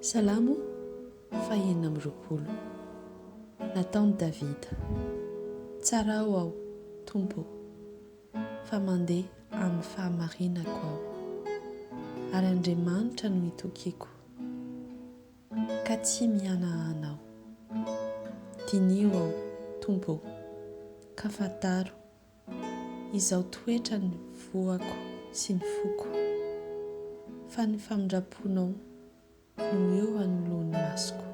Salamo fahenina amby roapolo. Nataon'i Davida. Tsarao aho, Tompo ô, fa mandeha amin'ny fahamarinako aho, ary Andriamanitra no itokiko, ka tsy mihanahana aho. Diniho aho, Tompo ô, ka fantaro Izao toetra ny voako sy ny foko, fa ny famindram-ponao no eo anoloan'ny masoko,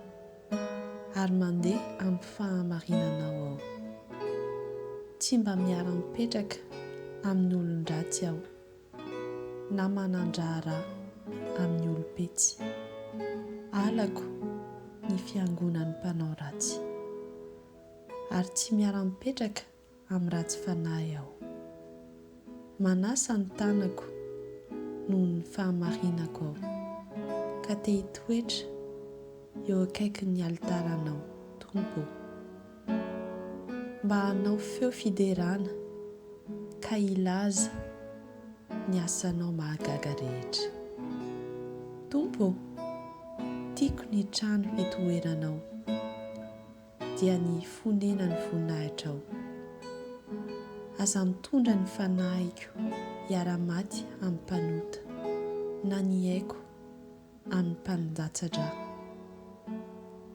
ary mandeha amin'ny fahamarinanao aho. Tsy mba miara-mipetraka amin'ny olon-dratsy aho, na manan-draharaha amin'ny olom-petsy. Halako ny fiangonan'ny mpanao ratsy, ary tsy miara-mipetraka amin'ny ratsy fanahy aho. Manasa ny tanako noho ny fahamarinako aho, ka te hitoetra eo akaikin'ny alitaranao, Tompo ô. Mba hanao feo fiderana ka hilaza ny asanao mahagaga rehetra. Tompo ô, tiako ny trano hitoeranao. dia ny fonenan'ny voninahitrao. Aza mitondra ny fanahiko hiara-maty amin'ny mpanota, na ny aiko amin'ny mpanindatsa-dra.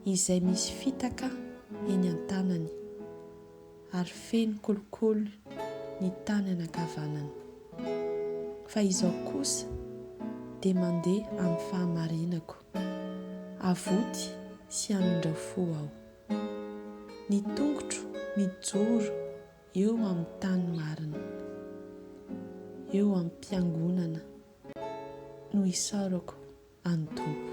Izay misy fitaka eny an-tanany, ary feno kolikoly ny tany anankavanany. Fa izaho kosa dia mandeha amin'ny fahamarinako. Avoty sy hamindra fo aho. Ny tongotro mijoro eo amin'ny tany marina. Eo am-piangonana no isaorako an'i Tompo.